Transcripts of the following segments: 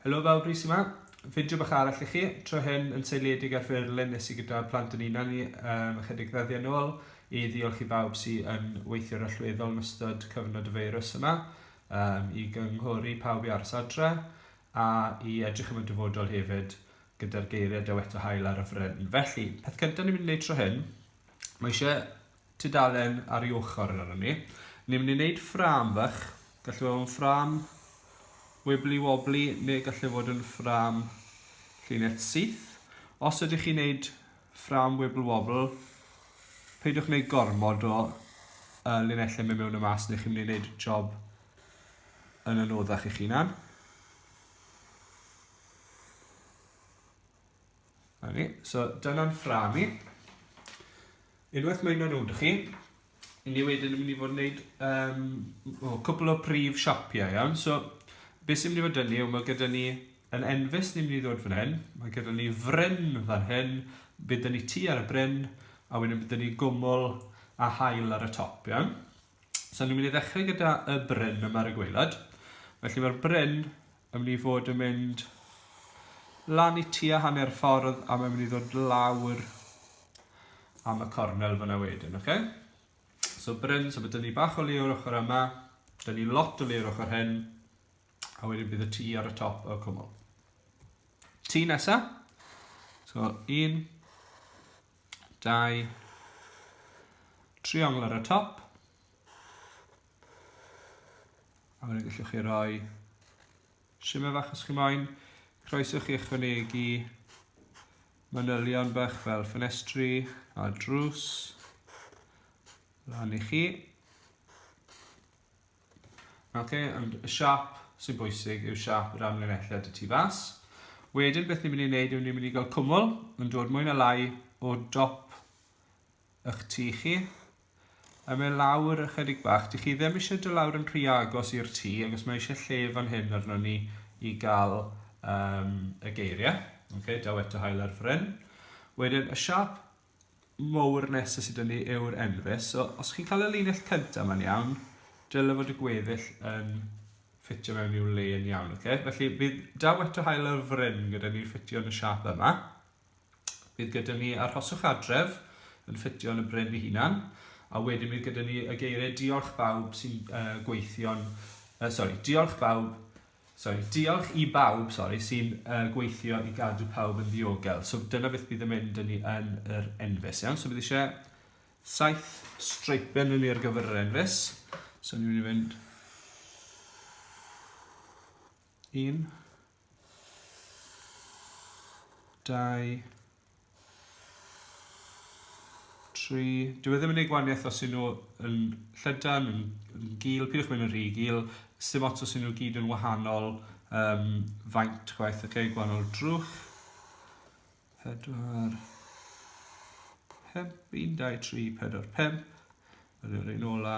Helo fel Brys yma, fideo bach arall i chi, tro hyn yn seiliedig ar ffurlen nes i gyda plant yn unan ni um, ychydig ddyddiau yn ôl i ddiolch i bawb sydd yn weithio'r allweddol yn ystod cyfnod y feirws yma um, i gynghori pawb i aros adre. A i edrych am y dyfodol hefyd, gyda'r geiriau dyweta hael ar y fryn. Felly, peth cyntaf ni'n mynd i wneud tro hyn, mae eisiau tudalen ar ei ochr yn arno ni. Ni'n mynd i wneud ffram fach, gallu fod yn ffram wibbly wobbly neu gallu fod yn ffram llinell syth. Os ydych chi'n wneud ffram wibble wobble, peidiwch wneud gormod o uh, linellau mewn y mas neu chi'n mynd i wneud job yn anoddach eich hunan. Ni. So dyna'n ffram i. Unwaith mae hynna'n wrth chi, ni wedyn yn mynd i fod yn gwneud um, o, cwpl o prif siapiau iawn. So beth sy'n mynd i fod yn ni yw mae gyda ni yn enfus ni'n mynd i ddod fan hyn, mae gyda ni fryn fan hyn, bydd ni tu ar y bryn, a wedyn bydd ni gwmwl a hael ar y top, iawn? So ni'n mynd i ddechrau gyda y bryn yma ar y gweilad. Felly mae'r bryn yn mynd i fod yn mynd lan i tua hanner ffordd a mae'n mynd i ddod lawr am y cornel fyna wedyn, oce? Okay? So bryn, so byddwn ni bach o le o'r ochr yma, byddwn ni lot o le o'r ochr hyn, a wedyn bydd y tŷ ar y top o'r cwmwl. Tŷ nesa, so un, dau triongl ar y top a wedyn gallwch chi roi shimmer fach os chi moyn croeso chi ychwanegu manylion bach fel ffenestri a drws lan i chi Oce, ond y siap sy'n bwysig yw siap yr amlinelliad y tu fas. Wedyn beth ni'n mynd i wneud yw ni'n mynd i gael cwmwl yn dod mwy na lai o dop eich tu chi. A mae lawr ychydig bach. Dych chi ddim eisiau dy lawr yn rhy agos i'r tu, ac os mae eisiau lle fan hyn arno ni i gael um, y geiriau. Okay, daw eto hael ar fryn. Wedyn y siap mowr nesaf sydd 'da ni yw'r enfys. So, os chi'n cael y linell cyntaf ma'n iawn, dylai fod y gweddill yn ffitio mewn i'w le yn iawn. Okay? Felly, bydd da weto hael ar fryn gyda ni'n ffitio yn y siap yma. Bydd gyda ni arhoswch adref yn ffitio yn y bryn i hunan. A wedyn bydd gyda ni y geiriau diolch bawb sy'n uh, gweithio'n... Uh, sorry, diolch bawb Sori, diolch i bawb, sori, sy'n uh, gweithio i gadw pawb yn ddiogel. So dyna beth bydd yn mynd yn ni yn yr enfys, iawn? So bydd eisiau saith streipen yn ni ar gyfer yr enfys. So ni'n mynd i fynd... Un. Dau. Tri. Dyw e ddim yn gwneud gwaniaeth os yw nhw yn llydan, yn, yn gil, pidwch mynd yn rhy gil, sim ots os yw nhw gyd yn wahanol um, faint gwaith, ok, gwahanol drwch. Pedwar. Pemp, un, dau, tri, pedwar, pemp. Yr un ola.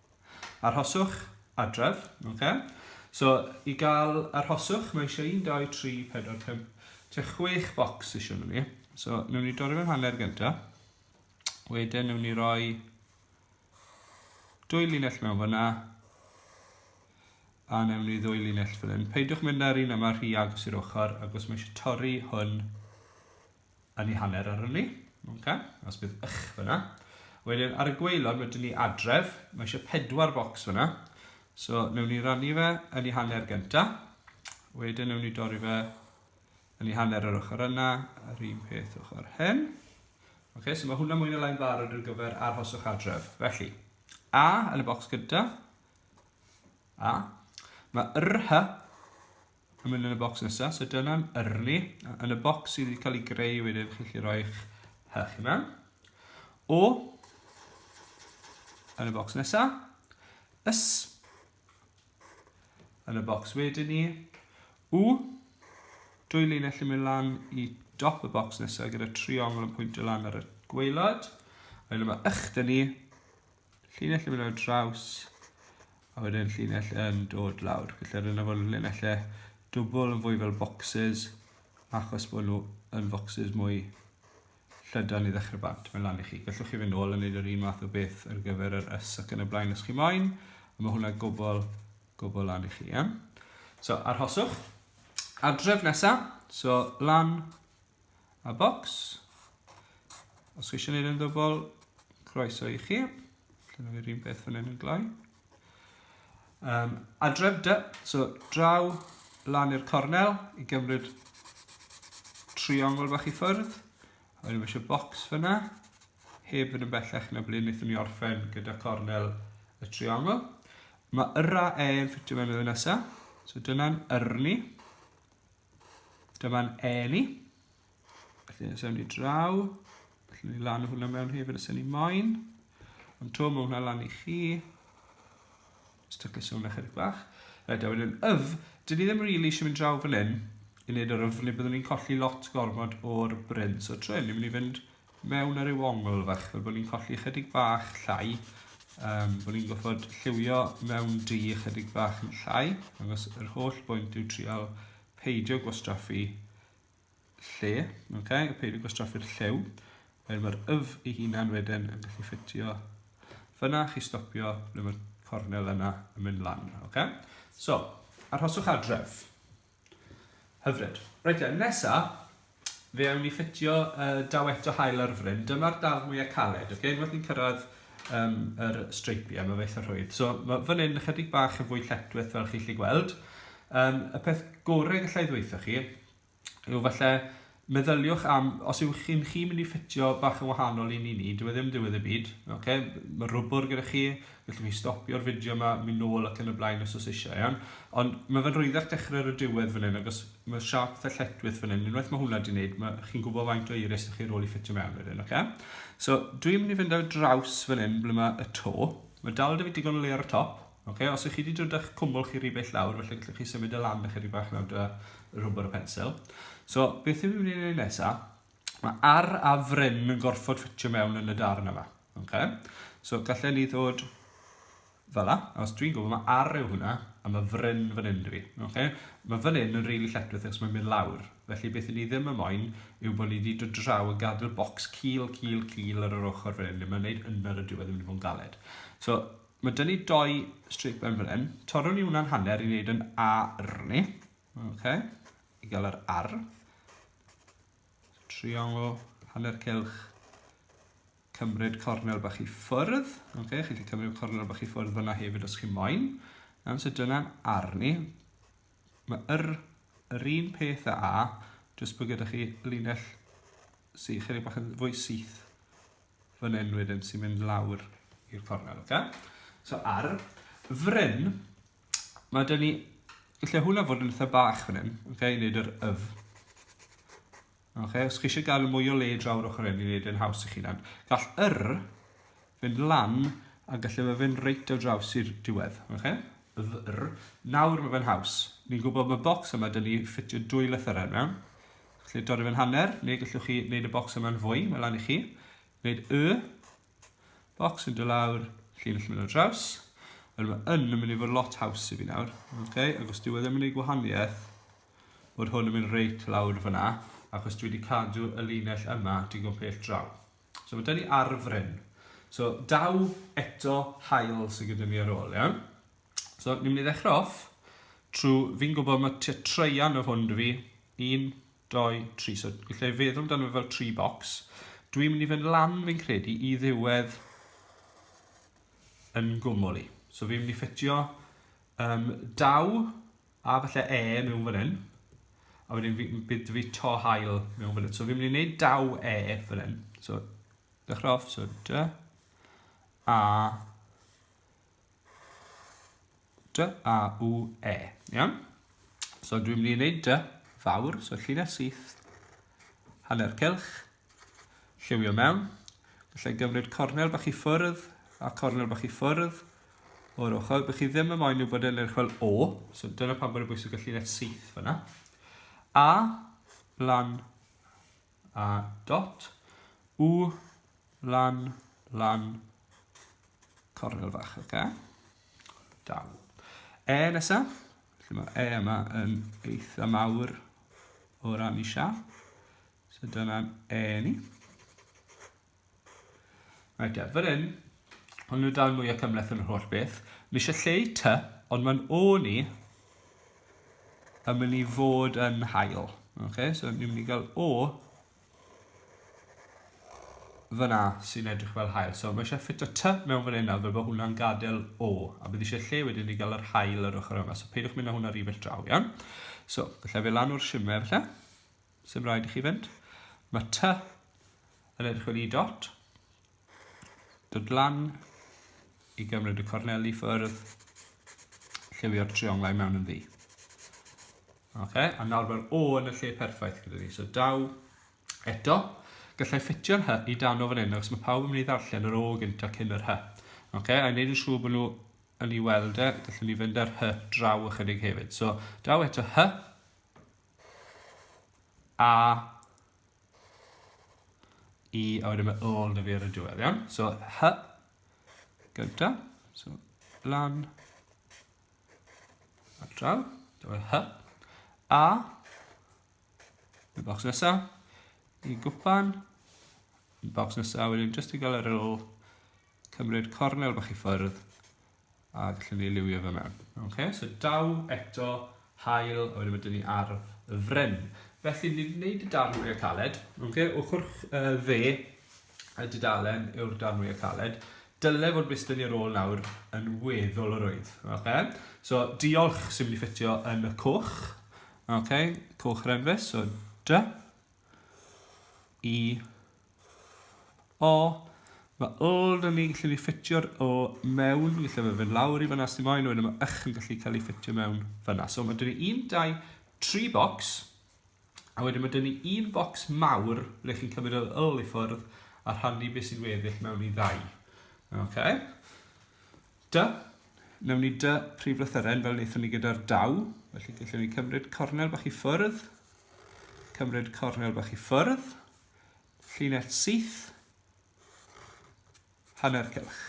Arhoswch adref, oce. So, i gael arhoswch, mae eisiau 1, 2, 3, 4, 5, tua 6 bocs eisiau nhw ni. So, newn ni dorri fe'n hanner gyntaf. Wedyn, newn ni roi dwy linell mewn fyna, a newn ni ddwy linell fan hyn. Peidiwch mynd ar un yma rhy agos i'r ochr, agos mae eisiau torri hwn yn ei hanner ar yli. Okay. Os bydd ych fyna. Wedyn ar y gweilod mae dyn ni adref. Mae eisiau pedwar bocs fyna. So newn ni rannu fe yn ei hanner gynta. Wedyn newn ni dorri fe yn ei hanner yr ochr yna, yr un peth ochr hyn. Okay, so mae hwnna mwy na lai'n barod ar gyfer arhoswch adref. Felly, A yn y bocs gyda. A. Mae rh yn mynd yn y bocs nesaf. So dyna'n yrni. Yn y bocs sydd wedi cael ei greu wedyn, chi'n gallu rhoi'ch hech yna. O, yn y bocs nesaf. Ys, yn y bocs wedyn ni. U, dwy linell yn mynd lan i dop y bocs nesaf gyda triongl yn pwyntio lan ar y gweilod. A yma ych dyn ni, llinell yn mynd ar draws a wedyn llinell yn dod lawr. Felly rydyn nhw'n linellau dwbl yn fwy fel boxes achos bod nhw yn foxes mwy llydan i ddechrau bant. Mae'n lan i chi. Gallwch chi fynd nôl yn neud yr un math o beth ar gyfer yr ys ac yn y blaen os chi moyn. A mae hwnna gobl, gobl lan i chi. Yeah? So, arhoswch. Adref nesaf. So, lan a bocs. Os chi eisiau gwneud yn ddwbl, croeso i chi. Dyna fi'r un beth fan hyn yn gloi. Um, adref dy, so draw lan i'r cornel i gymryd triongl bach i ffwrdd. A wedyn eisiau bocs fyna, heb fynd yn bellach na ble wnaethon ni orffen gyda cornel y triongl. Mae yrra e yn ffitio mewn y nesaf, so dyna'n yrni. Dyma'n Eli. Felly, nes ewn ni draw. Felly, ni lan o hwnna mewn hefyd os ni moyn. Ond to, mae hwnna lan i chi. Os da gysio hwnna chydig bach. Rhaid a wedyn yf, dyn ni ddim rili really eisiau mynd draw fan hyn i wneud yr yf, neu byddwn ni'n colli lot gormod o'r bryn. So, trwy hyn, ni'n mynd i fynd mewn ar ryw ongl fach, fel bod ni'n colli ychydig bach llai, um, bod ni'n goffod lliwio mewn du ychydig bach yn llai, agos yr holl bwynt yw trial peidio gwastraffu lle, okay? peidio gwastraffu'r lliw, er mae'r yf ei hunan wedyn yn gallu ffitio fyna, chi stopio ble mae'r cornel yna yn mynd lan. Okay? So, arhoswch adref. Hyfryd. Reit te, nesa, fe awn ni ffitio y uh, daw eto hael ar fryn. Dyma'r daf mwyaf caled, okay? Unwaith ni'n cyrraedd um, yr streipiau, mae fe eitha rhwydd. So, mae fan hyn ychydig bach yn fwy lletwith fel chi'n lli gweld. Um, y peth gorau gallai ddweithio chi yw falle Meddyliwch am, os yw'ch chi'n chi mynd i ffitio bach yn wahanol i ni ni, dyw e ddim diwedd y byd, ok? Mae rwbwr gyda chi, gallwch chi stopio'r fideo yma, mynd nôl ac yn y blaen os oes eisiau, iawn? Ond mae fe'n rhwyddach dechrau ar y diwedd fan hyn, agos mae siarp fatha lletwith fan hyn, unwaith mae hwnna di wneud, mae chi'n gwybod faint o iris ych chi rôl i ffitio mewn wedyn, ok? So, dwi'n mynd i fynd ar draws fan hyn ble mae y to, mae dal da fi digon o le ar y top, Okay, os ych chi wedi dod â'ch cwmwl chi rhy bell lawr, felly gallwch chi symud y lamp eich rhy bach lawr da y rhwbr y pensel. So, beth yw'n mynd i wneud nesaf? Mae ar a fryn yn gorfod ffitio mewn yn y darn yma. Okay? So, gallai ni ddod fel la, os dwi'n gwybod mae ar yw hwnna, a mae fryn fan hyn dwi. Okay? Mae fan hyn yn rili really lletwith achos mae'n mynd lawr. Felly beth ni ddim yn moyn yw bod ni wedi dod draw yn gadw'r bocs cil, cil, cil ar yr ochr fan hyn, mae'n gwneud yna ar y diwedd yn mynd i fod yn galed. So, Mae dyn ni doi straight burn fan hyn. Torrwn ni hwnna'n hanner i wneud yn ar ni. Okay. I gael yr ar. Triongl, hanner cilch. Cymryd cornel bach i ffwrdd. Okay. Chi'n cymryd cornel bach i ffwrdd fyna hefyd os chi moyn. Am so dyna'n ar ni. Mae yr, yr un peth a a, jyst bod gyda chi linell sy'n chydig bach yn fwy syth fan hyn wedyn sy'n mynd lawr i'r cornel, oce? Okay? So ar fryn, mae dyn ni, lle hwnna fod yn eitha bach fan hyn, oce, okay, i wneud yr yf. Oce, okay? os chi eisiau gael mwy o le draw'r ochr hyn i wneud yn haws i chi nan, gall yr fynd lan a gallu fe fynd reit o draws i'r diwedd, oce? Okay? Yr, nawr mae fe'n haws. Ni'n gwybod mae bocs yma dyn ni ffitio dwy lythyr yna, Gallwch dorri fe'n hanner, neu gallwch chi wneud y bocs yma'n fwy, mae lan i chi. Wneud y bocs yn dod lawr, llinell mynd o'r draws. Ond mae yn yn mynd i fod lot haws i fi nawr. Okay? Ac os dyw e ddim yn ei gwahaniaeth, bod hwn yn mynd reit lawr fyna, achos dwi wedi cadw y linell yma digon pell draw. So mae dyn ni ar fryn. So daw eto hael sydd gyda ni ar ôl, iawn? So, ni'n mynd i ddechrau off trwy, fi'n gwybod mae tua treian o hwn dwi fi, un, doi, tri, so gallai feddwl amdano fel tri box. Dwi'n mynd i fynd lan fi'n credu i ddiwedd yn gwmwl i. So fi'n mynd i ffitio um, daw a falle e mewn fan hyn, a wedyn fi, bydd fi to hael mewn fan hyn. So fi'n mynd i wneud daw e fan hyn. So, dechrau off, so da, a D, A, U, E. Iawn? So dwi'n mynd i wneud dy fawr, so llinell syth, hanner cylch, lliwio mewn. Felly gymryd cornel bach i ffwrdd a cornel bach i ffwrdd o'r ochr. Bych chi ddim yn moyn nhw bod yn edrych fel O, so dyna pan bod y bwysig y llinell syth fyna. A, lan, a dot u lan lan cornel fach, oce? Okay? Dal. E nesa, felly mae E yma yn eitha mawr o ran i siap. So dyna'n E ni. Right te, fan hyn, hwn yw'r darn mwyaf cymhleth yn yr holl beth. Mae eisiau lle i ty, ond mae'n o ni yn mynd i fod yn hael. Okay, so ni'n mynd i gael o fyna sy'n edrych fel hael. So mae eisiau ffit o ty mewn fan hyn nawr fel bod hwnna'n gadael o. A bydd eisiau lle wedyn i gael yr hael yr ochr yma. So peidiwch mynd â hwnna rhywbeth draw, iawn? So, felly fe lan o'r simer, felly. Sym rhaid i chi fynd. Mae ty yn edrych fel i dot. Dod lan i gymryd y corneli ffyrdd. Lliwio'r trionglau mewn yn ddi. Okay, a nawr mae'r O yn y lle perffaith gyda ni. So daw eto, gallai ffitio'r hy i dan o fan hyn, achos mae pawb yn mynd i ddarllen yr O gynta cyn yr hy. Okay, a wneud yn siŵr bod nhw yn ei weld e, gallwn ni fynd ar hy draw ychydig hefyd. So daw eto hy, A I a wedyn mae ôl da fi ar y diwedd iawn so hy gynta so lan a draw dyma hy a y bocs nesa i gwpan y bocs nesa wedyn jyst i gael yr ôl cymryd cornel bach i ffwrdd A gallwn ni liwio fe mewn. Ok, so daw eto hael, a wedyn mae dyn ni arf y fryn. Felly, ni wedi gwneud y darn mwyaf caled. Ok, ochr uh, dde y dudalen yw'r darn mwyaf caled. Dyle fod bus dyn ni ar ôl nawr yn weddol o rwydd. Ok, so diolch sy'n mynd i ffitio yn y coch. Ok, coch renfus, so dy. E O, mae old yn ni'n gallu ffitio'r o mewn, fi'n gallu fe fynd lawr i fyna sy'n moyn, wedyn mae ych yn gallu cael ei ffitio mewn fyna. So mae dyn ni un, dau, tri box, a wedyn mae dyn ni un box mawr ble chi'n cymryd yr yl i ffwrdd a rhannu beth sy'n weddill mewn i ddau. Okay. Dy, newn ni dy prif lythyren fel wnaethon ni gyda'r daw, felly gallwn ni cymryd cornel bach i ffwrdd, cymryd cornel bach i ffwrdd, Llinell syth. Hanner cylch.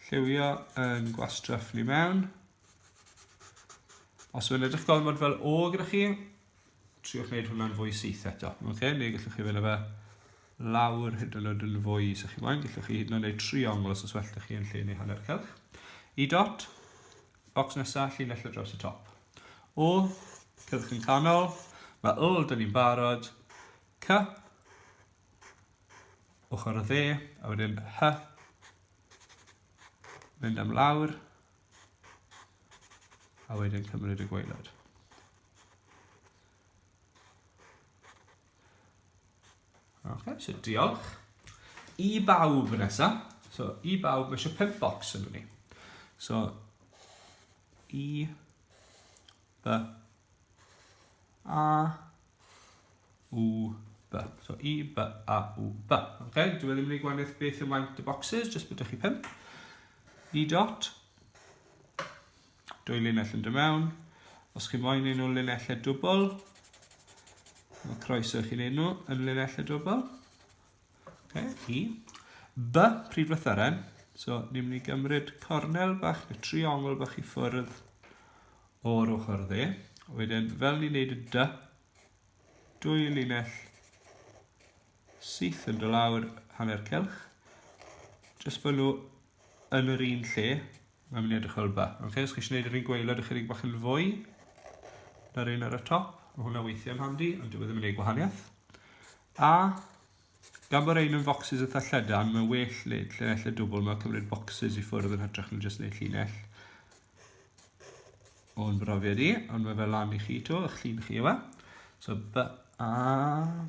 Lliwio yn gwastraff ni mewn. Os yw'n edrych gormod fel o gyda chi, triwch wneud hwnna'n fwy syth eto. Okay? Neu gallwch chi fynd fe lawr hyd yn oed yn fwy sy'ch chi moyn. Gallwch chi hyd yn oed wneud triongl os oes well da chi yn lle neu hanner cylch. I dot, Bocs nesa, llinell ar draws y top. O, cylch yn canol. Mae O, dyn ni'n barod. C, ochr y dde, a wedyn H, mynd am lawr, a wedyn cymryd y gwaelod. Ok, so diolch. I bawb yn nesa. So, i bawb, mae eisiau pimp box yn ni. So, i, b, a, u, b. So, i, b, a, u, b. Ok, dwi wedi mynd i gwaniaeth beth ymlaen y boxes, jyst bod chi pimp. I dot, Dwy linell yn dy mewn. Os chi moyn un nhw linellau dwbl, mae croeso i chi wneud nhw yn linellau dwbl. Okay, I. B, pryd lythyren. So, ni'n mynd i gymryd cornel bach neu triongl bach i ffwrdd o'r ochr dde. Wedyn, fel ni'n neud y dy, dwy linell syth yn dy lawr hanner celch. Jyst bod nhw yn yr un lle, Mae'n mynd i edrych fel ba. Ok, os chi eisiau gwneud yr un gweilod ychydig bach yn fwy, na'r un ar y top, mae hwnna weithio'n handi, ond dwi e ddim yn ei gwahaniaeth. A, gan bod ein yn focsys eitha lledan, mae well wneud llinellau dwbl, mae'n cymryd bocsys i ffwrdd yn hytrach na jyst wneud llinell. O'n brofiad i, ond mae fel lan i chi to, eich llun chi yma. So, B, A,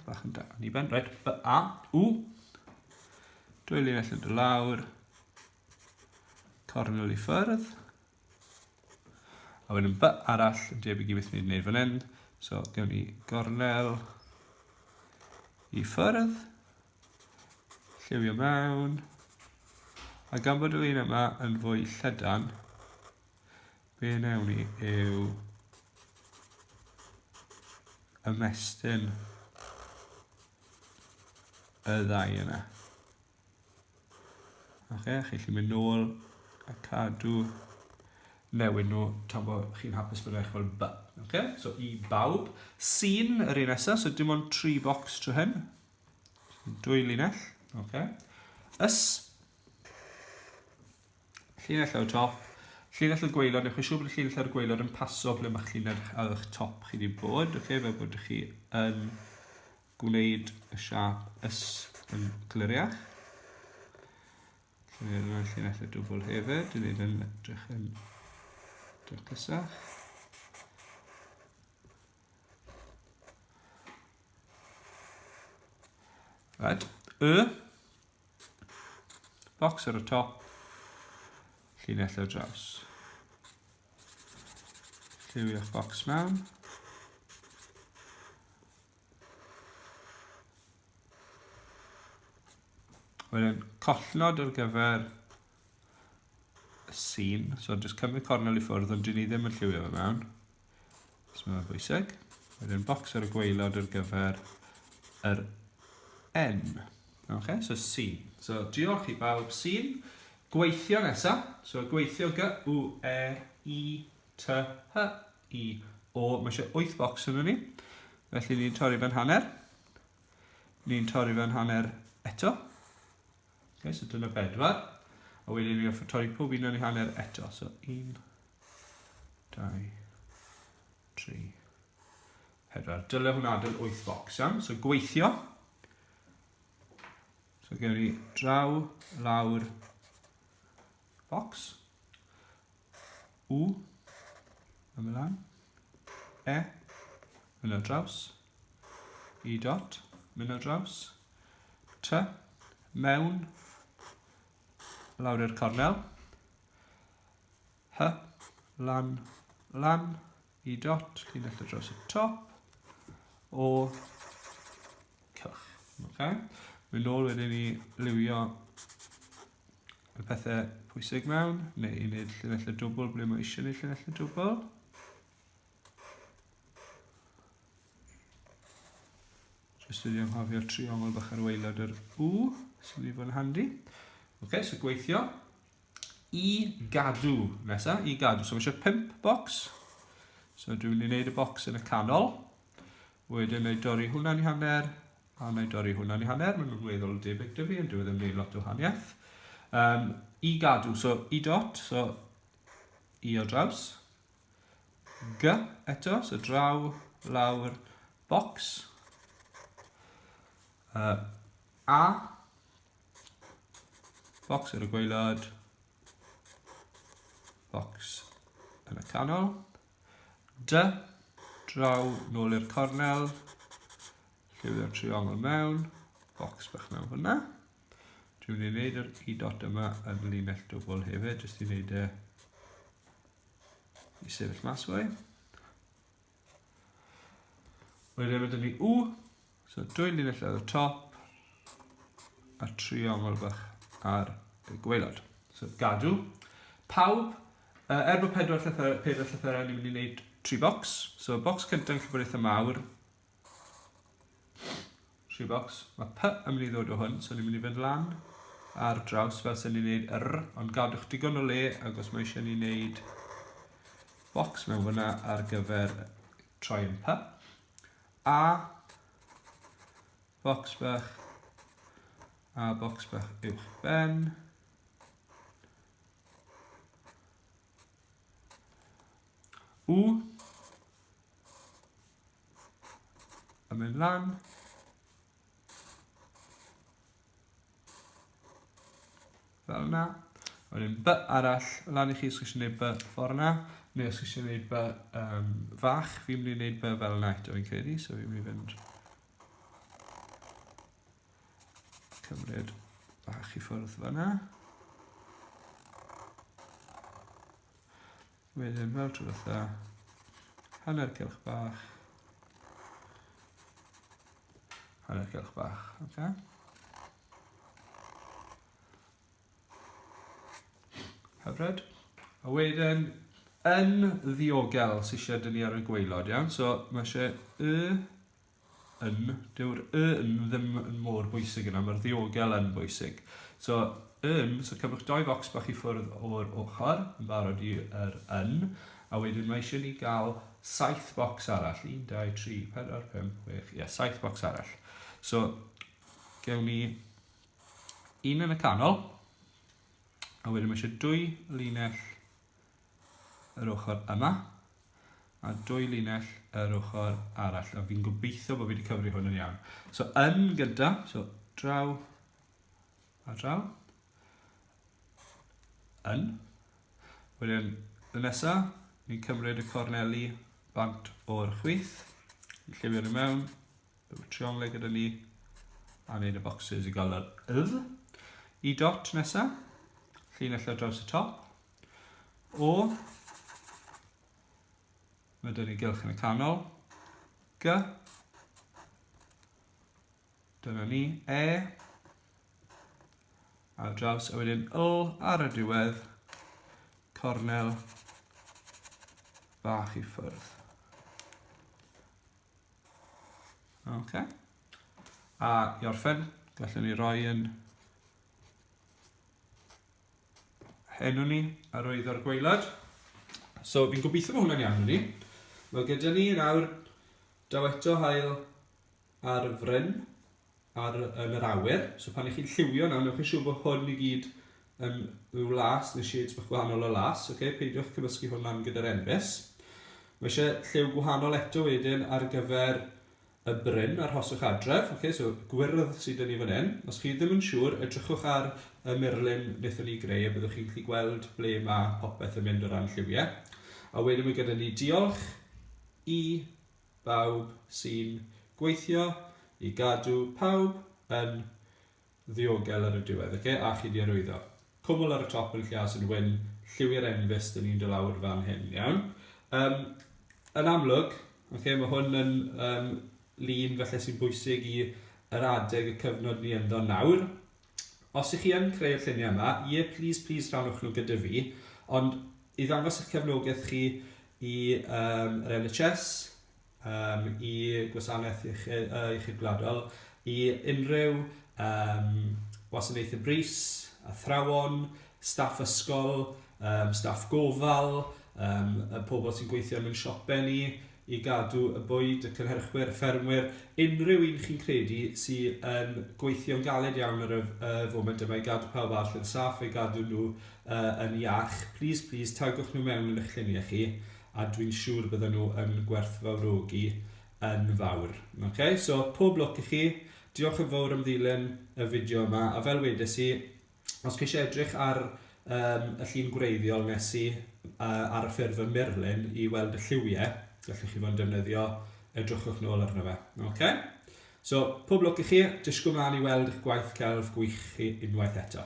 bach yn da, ni ben, right, B, A, U. Dwy linell yn dy lawr, Tornol i ffyrdd. A wedyn by arall yn debyg i beth ni'n gwneud fan hyn. So, gewn ni gornel i ffyrdd. Lliwio mewn. A gan bod y lun yma yn fwy llydan, be newn ni yw ymestyn y ddau yna. Oce, chi'n gallu mynd nôl a cadw newid nhw tan bod chi'n hapus bod eich fel ba. Oce, so i bawb. Sy'n yr un nesaf, so dim ond tri bocs trwy hyn. Dwy linell, oce. Ys. Llinell ar y top. Llinell y gweilod, newch chi siŵr bod y llinell ar y gweilod yn paso ble mae'ch llinell ar eich top chi wedi bod, oce, fel bod chi yn gwneud y siap ys yn gliriach. Lle yna llinellau dwbl hefyd, yn ei yn edrych yn dyrcysach. Right, y box ar y top, llinellau draws. Lliwio'ch box mewn. Wedyn collnod ar gyfer y sîn. So jyst cymryd cornel i ffwrdd ond dyn ni ddim yn lliwio fe mewn. So mae'n bwysig. Wedyn bocs ar y gweilod ar gyfer yr N. Okay, so sîn. So diolch i bawb sîn. Gweithio nesaf. So gweithio G, U, E, I, T, H, i o, mae eisiau 8 bocs yn ni. Felly ni'n torri fe'n hanner. Ni'n torri fe'n hanner eto. Okay, so dyna bedwar. A wedyn ni'n offer torri pob un o'n i hanner eto. So 1, 2, 3, 4. Dyle hwnna adael 8 bocs iawn. So gweithio. So gen i draw, lawr, Box. U. Ymlaen. E. Mynd ar draws. I dot. Mynd ar draws. T. Mewn. Lawr i'r cornel. H. Lan. Lan. I dot. Cyn ar draws y top. O. Cylch. Okay. Mynd nôl wedyn i liwio y pethau pwysig mewn, neu i wneud llinellau dwbl ble mae eisiau gwneud llinellau dwbl. Jyst wedi anghofio triongl bach ar waelod yr U, sy'n mynd i fod yn handi. Oce, okay, so gweithio. I gadw, nesa, i gadw. So mae eisiau pimp bocs. So dwi'n mynd i wneud y bocs yn y canol. Wedyn ei dorri hwnna'n i hanner, A wna i dorri hwnna'n ei hanner, maen nhw'n weddol debyg dy fi, ond dwi e ddim yn gwneud lot o wahaniaeth. Um, I gadw, so i dot, so i o draws. G eto, so draw, lawr, bocs. Uh, a, bocs yn y gweilod, bocs yn y canol. Dy, draw, nôl i'r cornel, lliwio'r triongl mewn, box bach mewn fyna. Dwi'n mynd i wneud yr i dot yma yn linell dwbl hefyd, jyst i wneud y i sefyll mas fwy. Wedyn mae dyn ni U, So dwy linell ar y top a triongl bach ar y gweilod. So gadw. Pawb, uh, er bod pedwar llythyr, pedwar llythyrau, ni'n mynd i wneud tri bocs. So bocs cyntaf yn llyfr eitha mawr. Tri bocs. Mae P yn mynd i ddod o hwn, so ni'n mynd i fynd lan ar draws fel sy'n ni'n gwneud R, ond gadwch digon o le agos mae eisiau ni'n gwneud bocs mewn fyna ar gyfer troi yn P. A, bocs bach, a bocs bach uwch ben. U, a mynd lan. Fel yna. A wedyn by arall, lan i chi os chi eisiau gwneud by ffordd yna, neu os chi eisiau gwneud by um, fach, fi'n mynd i wneud by fel yna eto fi'n credu, so fi'n mynd i fynd cymryd bach i ffwrdd fel yna. Wedyn fel tro dda, hanner cylch bach, hanner cylch bach, oce? Okay? Hyfryd. A wedyn, yn ddiogel sy'n eisiau dynnu ar y gweilod, iawn? So, mae eisiau y yn, dyw'r y yn ddim yn mor bwysig yna, mae'r ddiogel yn bwysig. So, yn, so cymrwch doi focs bach i ffwrdd o'r ochr, yn barod i'r er yn, a wedyn mae eisiau ni gael saith bocs arall, 1, 2, 3, 4, 5, 6, ie, saith bocs arall. So, gewn ni un yn y canol, a wedyn mae eisiau dwy linell yr ochr yma a dwy linell yr ochr arall a fi'n gobeithio bod fi wedi cyfri hwn yn iawn. So yn gyda, so draw a draw, yn. Wedyn y nesa, ni'n cymryd y corneli bant o'r chwith, lliwio'r mewn, Rwyf y trionglau gyda ni. A wneud y boxes i gael yr ydd. I dot nesa. Llinell ar draws y top. O. Mae dyn ni gylch yn y canol. G. Dyna ni. E. Ar draws a wedyn L ar y diwedd. Cornel bach i ffwrdd. Ok. A i orffen, gallwn ni roi yn henw ni ar oedd o'r gweilad. So fi'n gobeithio bod hwnna'n iawn i ni. Mae gyda ni nawr daw eto hael ar y fryn. ar, yn yr awyr. So pan ych chi'n lliwio nawr, newch chi siŵr bod hwn i gyd yn rhyw las neu shades bach gwahanol o las. Okay? Peidiwch cymysgu hwn lan gyda'r enfys. Mae eisiau lliw gwahanol eto wedyn ar gyfer y bryn a'r hoswch adref. Okay? So gwyrdd sydd yn ni fan hyn. Os chi ddim yn siŵr, edrychwch ar y murlun wnaethon ni greu a byddwch chi'n gallu gweld ble mae popeth yn mynd o ran lliwiau. A wedyn mae gyda ni diolch i bawb sy'n gweithio i gadw pawb yn ddiogel ar y diwedd, oce? A chi 'di arwyddo. Cwmwl ar y top yn Llyas yn wyn, lliwi'r enfys dyn ni'n do lawr fan hyn, iawn? Um, yn amlwg, oce, mae hwn yn um, lun felly sy'n bwysig i yr adeg y cyfnod ni ynddo nawr, os ych chi yn creu'r lluniau yma, ie, plis, plis rhanwch nhw gyda fi, ond i ddangos eich cefnogaeth chi i um, yr NHS, um, i gwasanaeth iechyd, uh, iechyd gwladol, i unrhyw um, wasanaethau bris, athrawon, staff ysgol, um, staff gofal, um, y pobl sy'n gweithio yn ein siopen ni, i gadw y bwyd, y cynhyrchwyr, y ffermwyr, unrhyw un chi'n credu sy yn gweithio'n galed iawn ar y foment yma i gadw pawb arall yn saff, i gadw nhw uh, yn iach, please, please, tagwch nhw mewn yn eich lluniau chi, a dwi'n siŵr bydden nhw yn gwerthfawrogi yn fawr. Okay? So, pob lwc i chi, diolch yn fawr am ddilyn y fideo yma, a fel wedes i, os chi isie edrych ar yym y llun gwreiddiol nes i yy ar y ffurf yn murlun i weld y lliwie, gallwch chi fod yn defnyddio, edrychwch nôl arno fe. Okay? So, pob lwc i chi, disgwyl mlaen i weld eich gwaith celf gwych chi unwaith eto.